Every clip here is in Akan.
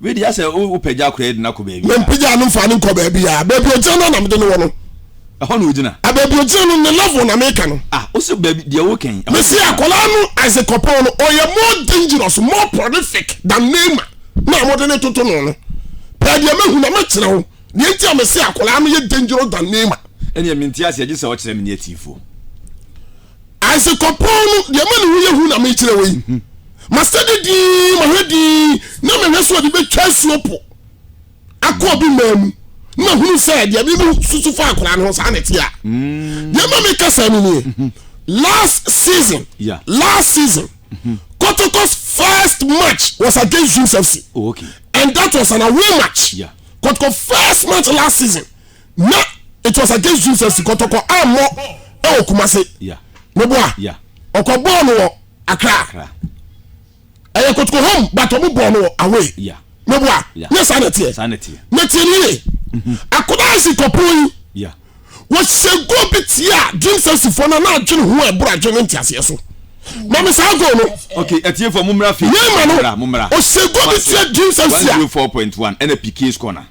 Wei deɛ asɛ wopagya akora de no akɔ baabi a. Mempagyaa no mfaa no nkɔ baabi a. Baabi ogyina no na mede no wɔ no. Ɛhɔ na ogyina. A baabi ogyina no ne level na meka no. Ah, wo se baabi deɛ woka yi. Mese akwadaa no Isaac Koppong no ɔyɛ more dangerous, more prolific than Neymar na wɔde ne toto no no. Pɛɛ deɛ mahu na mɛkyerɛ wo deɛ nti a mese akwadaa no yɛ dangerous than Neymar. Ɛnneɛ mente aseɛ gye sɛ ɔkyerɛ me ne atiifoɔ. Ase kɔpɔn no, deɛ ma ne ho yɛ hu na mekyerɛ wo yi. Masɛde din, mahwɛ din, na mehwɛ so ɔde bɛtwa asuo po akɔ obi mmaa mu. Na mahunu sɛ deɛ bi no susu fa akora no ho saa na ɛte a. Mm. Deɛ ma meka saa no nie. Mm-hmm. Last season, yeah. last season, mm-hmm. Kotoko's first match was against Dreams FC. Oh, okay. And that was an away match. Yeah. Kotoko first match last season. na it was against dream sɛ sikɔtɔkɔ ammɔ ɛwɔ kumase meboa ɔkɔ bɔɔ no wɔ akra ɛyɛ kotoko home but ɔmo bɔɔ no wɔ away meboa nyɛ saa na ɛteɛ na tie no yie mhm. akodaa sikɔpon yi wɔhyɛ go bi tie a dream sɛsifoɔ no na adwene ho ɛboro adwene nteaseɛ so mami saa go no. ok ɛtiɛ fɔ mu mura fi. yéé ma no o se go bi tiɛ dream sɛsi a. one zero four point one ɛna pk score na.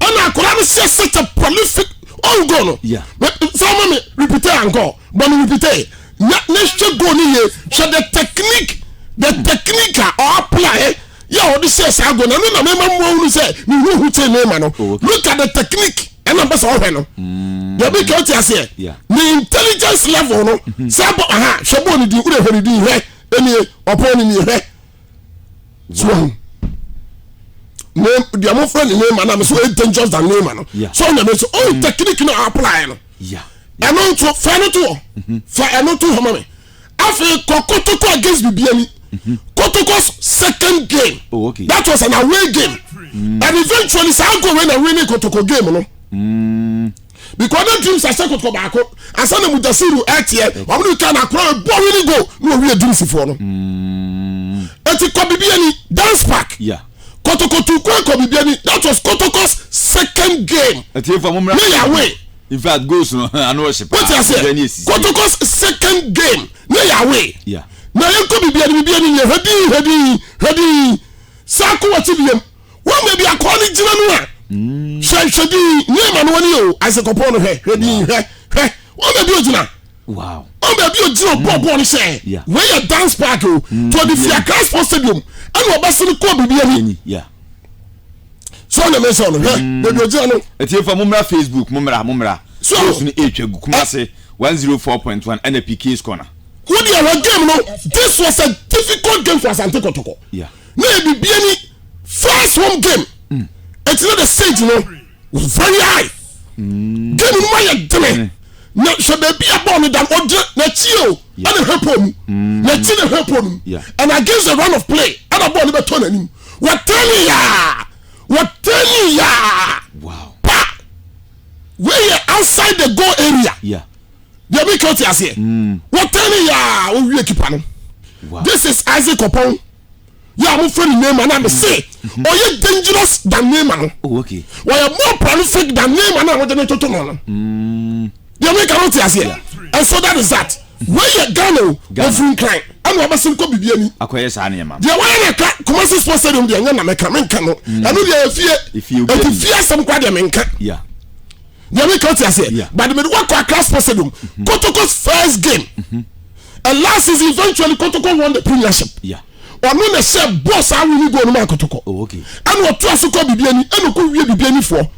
ɛna akwadaa no sɛ such a prolific own goal no Yeah. sɛ ɔma me repeat ankɔ bɔ me repeat na na hwɛ goal no yie hwɛ the technique the hmm. technique a ɔapply yɛ a ɔde hyɛ saa goal no ɛno na mema mmoa hunu sɛ mehuhu tee ne ma no oh, look at the technique ɛna mpɛ sɛ ɔhwɛ no hmm. yɛbi ka ɔte aseɛ ne intelligence level no hmm. sɛ bɔ aha hwɛ bɔɔ ne din wode hwɛ ne din hwɛ ɛnie ɔpɔn ne nie hwɛ so wɔn ne deɛ mo fɛ ne neema na mo so ɛyɛ dangerous than neema no so ɔnyame nso ɔn mm. technique na apply no ɛno nso fɛ no to hɔ mm-hmm. fɛ ɛno to hɔ ma me afei kɔ kotoko against bibi ani mm-hmm. kotoko's second game oh, okay. that was an away game mm. and eventually saa go wey na winning kotoko game no. Mm. because na dreams ahyɛ kɔtɔkɔ baako ansa na mudasiru ɛteɛ eh, wɔn ne kan akora ɛbɔ eh, wini go na wɔwie dreams foɔ no mm. eti kɔ bibi ani dance park kɔtɔkɔ tu kwan kɔ bibi ani that was kɔtɔkɔ's second game ne yawe in fact goals no ano ɔhyɛ paa wote aseɛ kɔtɔkɔ's second game ne yawe na yɛn kɔ bibi ani bibi ani yɛ hɛdii hɛdii hɛdii saako wɔ ti bi yɛm wɔn baabi akɔɔ no gyina no a mm. hwɛ hwɛ din nyɛ ma no wɔne o ase kɔpɔn no hwɛ hwɛ din hwɛ hwɛ wɔn baabi ogyina wɔn baabi ogyina ɔbɔ mm. bɔɔl no hyɛ wɔn yɛ dance park o mm. to ɔde fia Christ Sports Stadium ɛna ɔba sini kɔɔ biribi ani sọ na mẹsàn ọ̀nà hẹ bẹẹbi ọjọ́ ẹnu. ẹtí efa mo mìíràn Facebook mo mìíràn mo mìíràn. so o sunu etwa gu Kumasi one zero four point one ẹna Pikins corner. wọ́n di ẹ̀rọ game no this was a difficult game for Asante Kotoko. Yeah. na yɛ bibia ni first home game mm. ɛti na the stage no was very high mm. game no ma yɛ dene mm. na sɛ baabi a bɔɔl no da no ɔgyina n'akyi o ɛna hwɛ pɔn mu mm. n'akyi na hwɛ pɔn mu and against the run of play ɛna bɔɔl no bɛ tɔ n'anim wɔtɛni yaa wɔtɛni yaa pa wei yɛ outside the goal area. Yeah. deɛ meka wote aseɛ mm. wɔtɛn ne yɛa wɔwie kipa no this is isaac ɔpɔn yɛ a mofrɛ no nema na mese mm-hmm. ɔyɛ dangerous than nema no oh, wɔyɛ more prolific than nema no a wode ne toto no no mm. deɛ meka no wote aseɛ and so that is that weyɛ ghana o ɔfiri nkran ɛna ɔbɛsen kɔ biribi ani akɔyɛ saa nneɛma deɛ wɔyɛ na ɛka kumasi sports stadium deɛ ɛnyɛ na mɛka menka no mm. ɛno deɛ ɛfie ɛti fie asɛm kora deɛ menka deɛ meka te aseɛ Yeah. but mede wakɔ akra sports stadium kotoko's first game and last season eventually kotoko won the premiership Yeah. ɔno na ɛhyɛ bɔɔl saa wini goal no ma kotoko Oh, okay. ɛna ɔtoa so kɔ bibi ani ɛna ɔkɔ wie bibi anifoɔ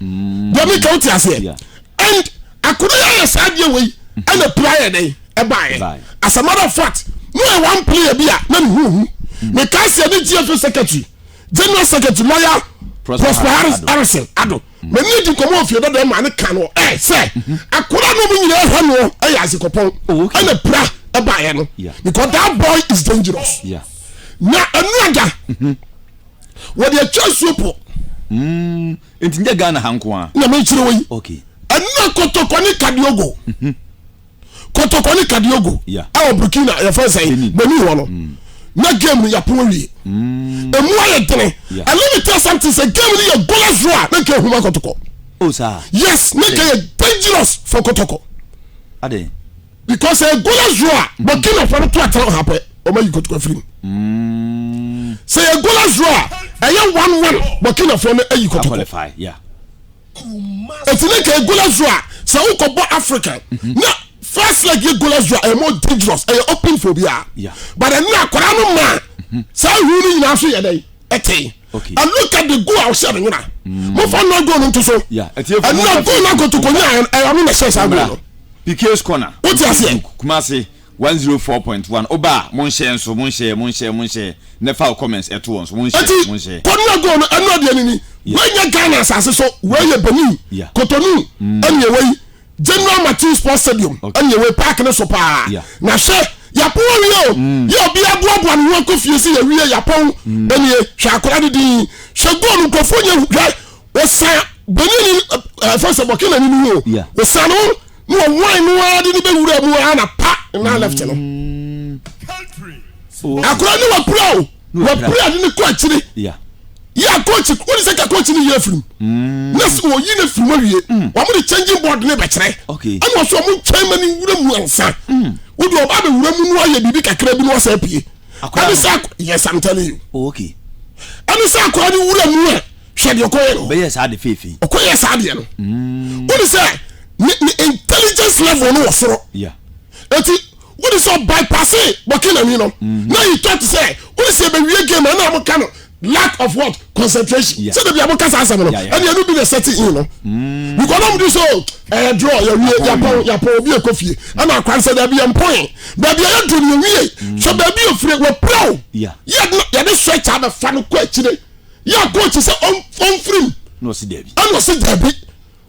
deɛ meka wote aseɛ Yeah. and akoro yɛ ayɛ saa deɛ wei ɛna pira yɛ dɛn ɛbaeɛ Ɛbaeɛ. as a matter of fact no yɛ one player bi a na ne ho hu meka aseɛ ne gfa secretary general secretary lawyer Prosper prosper harris Harrison. harrison ado Mene no di nkɔmmɔ wɔ fie dada ma ne ka no ɛ sɛ akora no mu nyinaa hwɛ no ɛyɛ azekɔpɔn oh, ɛna pira ɛbaeɛ no because that boy is dangerous na ɛnu ada mhm. wɔde atwa nsuo po mm, nti nyɛ Ghana ha nko a na mekyerɛ wɔ yi ɛna kɔtɔkɔ ne kadiogo mhm. kɔtɔkɔ ne kadiogo ɛwɔ burkina yɛfrɛ sɛ benin hɔ no mm. na game no yɛapo awie mm. ɛmu ayɛ dene and let me tell something sɛ game no yɛ gola zoro a na nka ahuma kɔtɔkɔ oh, yes na nka yɛ dangerous for kɔtɔkɔ because ɛyɛ gola zoro a mm. burkina fɔ no to atena ɔha pɛ ɔma yi kɔtɔkɔ afiri mu sɛ yɛ gola zoro a ɛyɛ one one burkina fɔ no ayi kɔtɔkɔ Eti ne ka Golazo a sɛ wokɔ bɔ African mhm. na first leg yɛ Golazo a ɛyɛ more dangerous ɛyɛ open for obiara but ɛno na akwadaa no maa mhm. saa ihu no nyinaa so yɛ dɛ ɛte and look at the goal a ɔhyɛ no nyina mm. mo fa nɔ goal no nto so ɛno na goal no akotokonya ɛyɛ ɔno na ɛhyɛ saa goal no. Piquet's corner. Wotia seɛ. Kumasi. One zero four point one Oba a mo nhyɛɛ nso mo nhyɛɛ mo nhyɛɛ mo nhyɛɛ nɛ fa wo comments ɛto wɔn so mo nhyɛɛ Ɛnti mo nhyɛɛ. kɔ nua goal no ɛno adeɛ no ni wei nyɛ Ghana asase so wei yɛ Benin Yeah Cotonou ɛne ɛwɔ yi General Matthew Sports Stadium Okay ɛne ɛwɔ yi park no so paa Yeah na hwɛ yɛapɔn awie o yɛ obiara boaboa ne ho akɔ fie sɛ yɛawie yɛapɔn ɛnie hwɛ akwadaa no din hwɛ goal no nkurɔfoɔ nyɛ hu hwɛ wɔsan bɔnyɛni ɛfɛ sɛ bɔkɛna ni ni o wɔsan no na wɔwan no ara de ne bɛ wura mu ara na pa na left no mm. akora ne wapira o wapira de ne kɔ akyiri yɛ akɔɔkyi wɔn sɛ kakɔɔkyi ne yɛ afirim mm. na sɛ wɔyi ne firim awie mm. wɔn de changing board ne bɛkyerɛ ɛna wɔsɔ wɔn nkyɛn ma ne wura mu ansa wodi ɔba bɛ wura mu no ayɛ biribi kakra bi na wɔsɛ apue ɛne sɛ yɛ samtɛli ɛne sɛ akora ne wura mu a. hwɛ deɛ ɔkɔyɛ no ɔbɛyɛ saa de feefei ɔkɔyɛ saa deɛ no mm. wode sɛ ne ne intelligence level no wɔ soro eti wode sɛ ɔbypasse bɔkenani no mm-hmm. na yi tɔ te sɛ wode sɛ ɛbɛwie game ɛna mo ka no lack of what concentration sɛ dabi a mo kasa asɛm no ɛne ɛno bi na ɛsɛte in no mm. because na mo di so ɛyɛ eh, draw yɛwie yapɔn yapɔn obi ɛkɔ fie ɛna akwan sɛ dabi yɛn pɔn baabi a yɛduru no yɛwie mm. so baabi yɛ fure wɔ piraw yɛde yɛde sɔ ɛkyɛ abɛfa no kɔ akyire. yɛ a coach sɛ ɔmfiri mu ɛna ɔsi daabi ɛna ɔsi daabi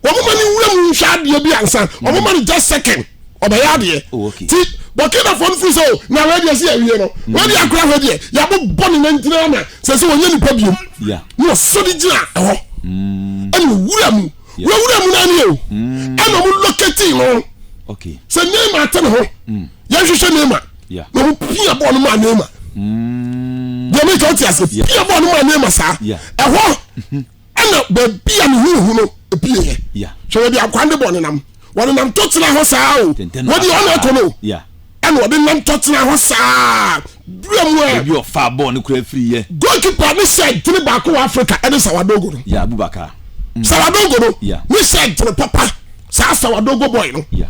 wɔn ma ne wura mu nhwɛ adeɛ bi ansa wɔn mm. ma ne just second ɔbɛyɛ adeɛ oh, ti burkina fɔ no firi sɛ o oh, na wɔadi ɛsi awie no mm. wɔadi akora hɔ deɛ yɛabɔ bɔ ne nantina ama sɛ sɛ wɔnyɛ nipa biom na ɔsɔ de gyina ɛhɔ mm. ɛna owura mu wɔwura mu naa ni o ɛna wɔn locate no sɛ neema ate ne ho yɛhwehwɛ neema. na ɔmo pia bɔɔl no maa Neymar deɛ meka wote ase pia bɔɔl no maa Neymar saa ɛhɔ ɛna baabi a ne ho hu no pieɛ hwɛ baabi akwa ne bɔ nenam wɔde nam to tena hɔ saa o wɔde ɔna ɛkɔ no ɛna wɔde nam to tena hɔ saa dura mu ɛ ebi ɔfa bɔɔl no kura firi yɛ goalkeeper ne sɛ gyene baako wɔ Africa ɛne Sawadogo no yɛ Abubakar Sawadogo no ne sɛ gyene papa saa Sawadogo boy no. Yeah.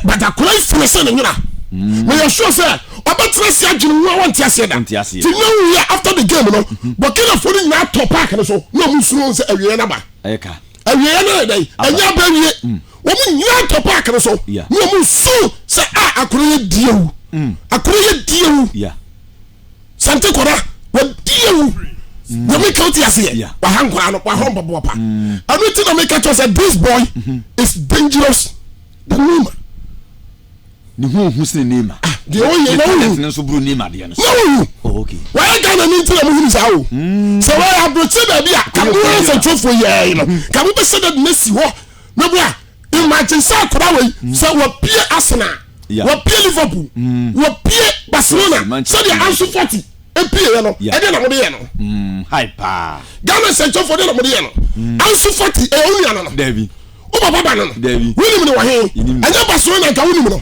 but akora yi firi sɛ ne nyina mm. meyɛ sure sɛ ɔbɛtena ase adwene mu a wɔnte aseɛ da nti na wowie after the game no mm-hmm. bɔkinafoɔ no nyinaa tɔ park no so na ɔmu suro sɛ awieɛ no aba awieɛ no yɛ dɛn ɛnyɛ aba awie mm. wɔn nyinaa tɔ park no so na ɔmu suro sɛ a ah, akora yɛ diewu mm. akora yɛ diewu sante kɔda wɔdiewu nyame ka wote aseɛ waha nkora no wahɔ mpɔpɔpa ɛno nti na meka kyɛ sɛ this boy mm-hmm. is dangerous The Neymar. Ne ho ohu sene Neymar. Ah, deɛ ɔyɛ na ohu. Talent ne nso buru Neymar deɛ no. Na ohu. Oh, okay. Wɔyɛ Ghana ni nti na mo hunu saa o. Hmm. Sɛ wɔyɛ aburokye baabi a kamo yɛ nsɛntwerɛfoɔ yɛɛ no hmm. kamo bɛ sɛ dɛm na si hɔ na bu a imagine sɛ akora wɔ yi hmm. sɛ wɔpie Arsenal wɔpie Liverpool wɔpie Barcelona sɛdeɛ Ansu Fati epie yɛ no ɛdeɛ na mo de yɛ no. Ghana nsɛntwerɛfoɔ deɛ na mo de yɛ no Ansu Fati ɛyɛ onua no no. Wobɔ bɔ ba no no, wonim no wɔ he? Ɛnyɛ ba soe na anka wonim no,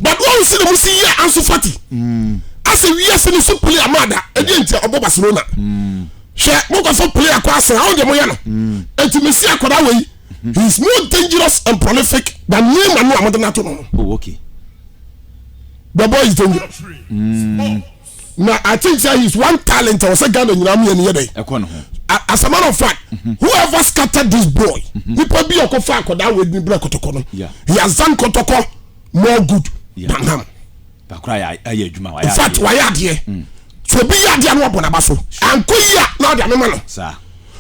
but woahu sɛdeɛ mo si yɛɛ Ansu Fati mm. asɛ wiase no so player maa da, ɛdeɛ nti a ɔbɔ Barcelona. Mm. Hwɛ, mokɔfo player kɔ asɛn, awo deɛ moyɛ no. Mm. Enti mesi akwadaa wei, mm-hmm. he is more dangerous and prolific than Neymar no a mode no ato no. Oh, okay. The boy is dangerous. Mm. na i think say he is one talent ɛwɔ sɛ ghana nyinaa mmienu yɛ dɛ ɛkɔ ne ho as a matter of fact mhm. whoever scattered this boy mhm. nipa bi ɔkɔ fa akɔda awɛ ni bere kɔtɔkɔ no he has done kɔtɔkɔ more good than ham in fact wayɛ adeɛ mm. so obi yɛ adeɛ no wabɔ n'aba so anko yi a na ɔde amema no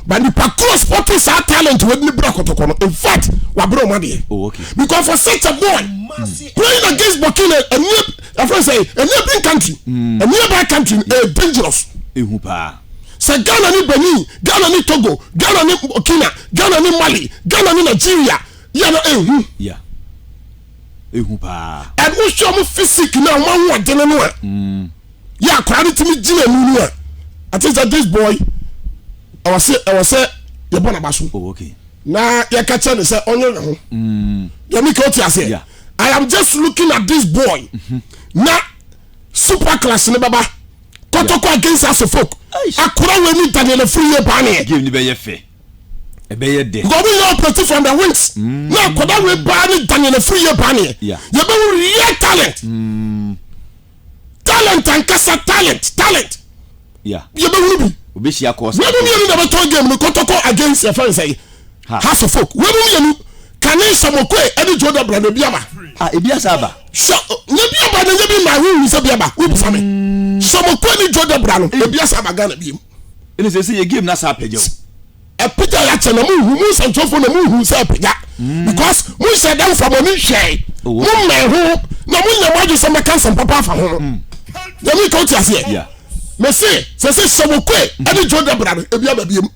But nipa koro sporting saa talent wɔ ne bra kɔtɔkɔ no in fact wabere ɔmo adeɛ. Oh okay. Because for such a boy mm. playing against Burkina a near a friend say a neighboring country mm. a nearby country mm. a dangerous. Ehu paa. Sɛ Ghana ni Benin, Ghana ni Togo, Ghana ni Burkina, Ghana ni Mali, Ghana ni Nigeria yɛ no ehu. Yeah. ehu paa. Ɛno hwɛ ɔmo physique na ɔmo ahoɔden no a. Mm. Yɛ akwadaa no tumi gyina mu no a. I think that this boy ɛwɔ sɛ ɛwɔ sɛ yɛbɔ n'aba so. Oh okay. Na yɛka kyerɛ ne sɛ ɔnyɛ ne ho. Mm. Yɛmi ka ɔte aseɛ. Yeah. I am just looking at this boy. Mm-hmm. Na super class ne baba. Kɔtɔkɔ against asefolk. Akora wɔ ni Daniel Afuriye paa ne yɛ. Game ni bɛ yɛ fɛ. ɛbɛyɛ dɛ. Nka ɔmo yɛ operate from the wings na akɔda wei baa ne daniɛ na firi yie baa neɛ yɛ bɛ hu real talent talent ankasa talent talent yɛ bɛ hunu bi wɛmu mienu na bɛ tɔn game no kɔtɔkɔ against yɛ fɛn sɛyi house of folk wɛmu mienu kane samokoe ɛne joe dabra na ebi aba ah ebi asa aba sɛ na ebi aba na nye bi ma ahu hu sɛ bi aba wo bisa me samokoe ne joe dabra no ebi asa aba Ghana bi mu. ɛne sɛ sɛ yɛ game no asa apagya o apagya yɛ akyɛ na mohu mu nsɛnkyerɛfoɔ na mohu sɛ apagya mm. because monhyɛ dɛ mfa mɔne nhwɛe oh, mommɛn ho na monyɛ mo adwe sɛ mɛka nsɛm papa afa ho no mm. yɛmeka wote aseɛ mese sɛ sɛ hyɛ wo koe mm. ɛne dwo da bra no ebia babiam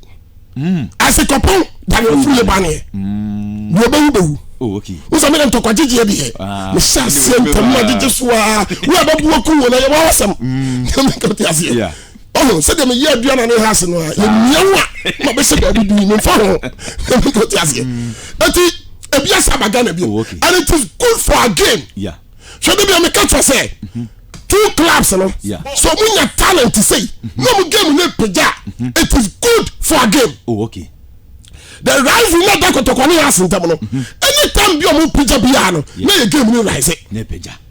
asekɔpɔn dane ɔfiri yɛ baneɛ deɛ ɔbɛwu bɛwu Oh, okay. wosa mene ntɔkwagyedeɛ deɛ mehyɛ aseɛ ntam agyegye so a wo a bɛboa ku wɔ no yɛwɔ awasɛm mekate aseɛ ɔho sɛdeɛ meyɛ adua na ne ha ase no a yɛmia wo a ma bɛhyɛ baabi bi memfa ho te aseɛ ɛnti ebi asa ba ghana bio oh, and it is good for our game hwɛ de bia meka kyerɛ sɛ mhm. two clubs no so mu nya talent sei mhm. na mu game no pagya mhm. it is good for our game oh, okay. the rivalry na da kɔtɔkɔ ne yɛ ase ntam no anytime bi ɔmo pagya biara no na yɛ game no rise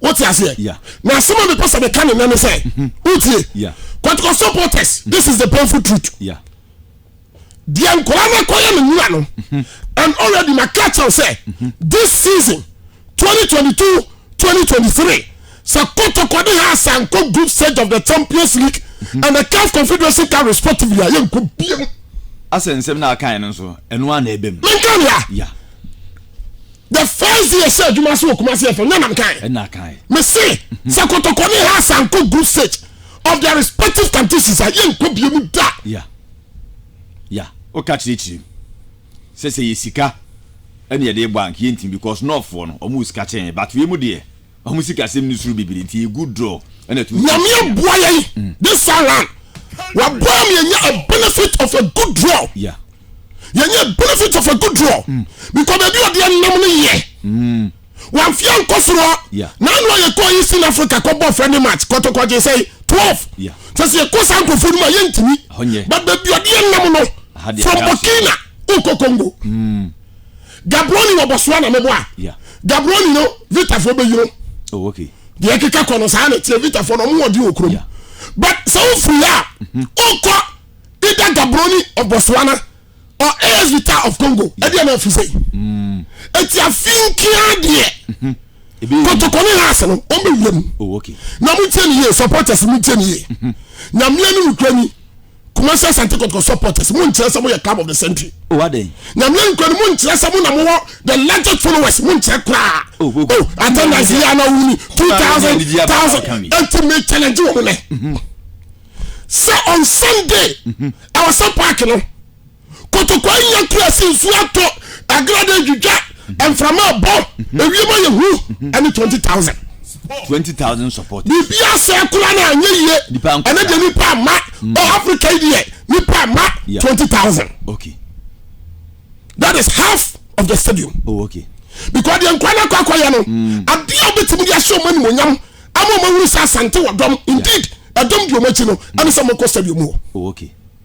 wote aseɛ Yeah. na asɛm a mepɛ sɛ meka ne nɛ ne sɛ mhm. wotie Yeah. kɔtokɔ supporters mhm. this is the painful truth Yeah. deɛ nkora no kɔyɛ no nwura no mhm. and already maka kyɛw sɛ this season 2022 2023 sɛ kɔtokɔ de ha asankɔ group stage of the champions league and the caf confederation cup respectively a yɛnkɔ biam asɛ nsɛm no akae no nso ɛno a na ɛbɛm menka nea Yeah. the first day ɛsɛ adwuma so wɔ kumase ɛfɛ nya nam kan ɛna kan mese sɛ kɔtɔkɔ ne ha sanko group stage of their respective countries a yɛnkɔ bie mu da ya ya woka kyerɛkyerɛ mu sɛ sɛ yɛ sika ɛne yɛde bɔ ank yɛntim because nɔɔfoɔ no ɔmo sika kyɛn but wei mu deɛ Ɔmo sikasɛm no suro bebree nti egu draw ɛna ɛtum. Nyame aboa yɛn mm. this time round. Waboa mi yɛnya a benefit of a good draw. Yeah. Yɛnya a benefit of a good draw. Mm. Because baabi ɔde ɛnam no yɛ. Mm. Wamfia nkɔ soro. Yeah. N'anu a yɛkɔ yi sin Africa kɔ bɔ friendly match kɔtɔkɔ gye sɛ twelve. Yeah. Sɛ sɛ yɛkɔ saa nkɔfo no mu a yɛntumi. But baabi ɔde ɛnam no. From Burkina nkɔ Congo. Mm. Gaborone wɔ Botswana no bo a, Gaborone no Vitafoɔ bɛyi no. Oh, okay. Deɛ ɛkeka kɔ no saa na ɛteɛ Vitafoɔ no ɔmo wɔden wɔ kurom. But sɛ wofiri ha a, mm-hmm. wokɔ either Gaborone of Botswana or AS Vita of Congo. Ɛdeɛ na afiri sɛ. Mm. Ɛti afinkia deɛ. Mm-hmm. kotoko ne laase no wɔn bɛ wura mu oh, na mo nkyɛn ni yie supporters mo nkyɛn ni yie mm-hmm. nyamea ne nukura ni. kumasi asante kɔtɔkɔ supporters mo nkyerɛ sɛ mo yɛ club of the century. o oh, adɛ. nyamia nkura ni mo nkyerɛ sɛ mo na mo wɔ the largest followers mo nkyerɛ koraa. o oh, o oh, o attendance yi ana wuli two thousand thousand eti mi challenge wɔn nɛ. sɛ on sunday ɛwɔ sɛ park no. kotokwa anya kurase nsuo atɔ agrada adwidwa mframa abɔ ewiem ayɛ hu ɛne twenty thousand. twenty thousand support. biribi asɛ kura na anyɛ yie ɛne deɛ nipa ama mm. ɔ africa yi deɛ nipa ama twenty thousand. okay that is half of the stadium. oh okay. because deɛ nkura na kɔ akɔyɛ no mm. adeɛ a wobɛtumi de ahyɛ ɔmo animonyam ama ɔmo ahuru sɛ asante wɔ dɔm indeed ɛdɔm di ɔmo akyi no ɛne sɛ ɔmo kɔ stadium wɔ. oh okay.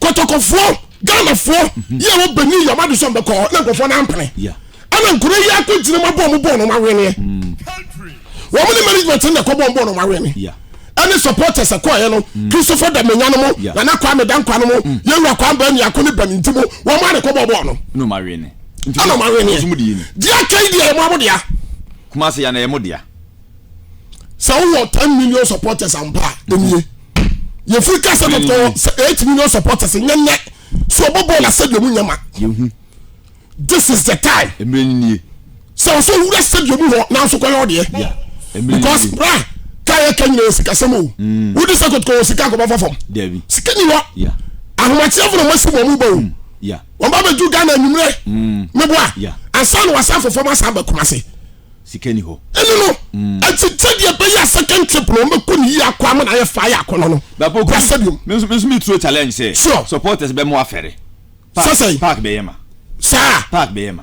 kɔtɔkɔfoɔ ghanafoɔ yɛ wɔ benin yɛ ɔmo adi sɛ ɔmo bɛkɔ hɔ na nkurɔfoɔ no ampene Yeah. ɛna nkuro yi akɔ gyina mu abɔ ɔmo bɔɔl na ɔmo aweneɛ wɔn ne management no na ɛkɔ bɔ ɔmo bɔɔl na ɔmo awene Yeah. ɛne supporters ɛkɔɔyɛ no christopher damenya no mo Yeah. nana kwame dankwa no mo yɛwura kwan baa niako ne bani nti mo wɔn mo a na ɛkɔ bɔ bɔɔl no No ma wene. ɛna ɔmo aweneɛ Ɔsum di yini. deɛ aka yi deɛ ɛmo amo deɛ Kuma se ya na yɛ mo dea. sɛ wowɔ ten million supporters ampa a ɛnie yɛfiri ka sɛ dɔtɔ sɛ eight million supporters nyɛ nnɛ so ɔbɔbɔɔ no asɛdeɛ mu nyɛ ma yɛhu this is the time mmerɛ no nie sɛ ɔsɛ owura sɛdeɛ mu hɔ nanso kɔyɛ ɔdeɛ because bra ka yɛ ka nyina yɛ sikasɛm o mm. wode sɛ kɔtokɔ wɔ sika kɔbɛfa fam sika ni hɔ ahomakyeɛ fo na masi bɔ mu ba o mm. wɔn ba bɛdu ghana anwummerɛ meboa mm. ansa na wasa afofam asa aba kuma se sika ni hɔ. Ɛno no, ɛnti sɛdeɛ ɛbɛyɛ a second trip no wɔbɛkɔ no yie akɔ ama no ayɛ fire akɔ no no, Bapo bra sɛ biom. Me nso me nso me turo challenge sɛ Sure. supporters bɛ mo afɛre. Park Sɛsɛn. park bɛ yɛ ma. Saa. Park bɛ yɛ ma.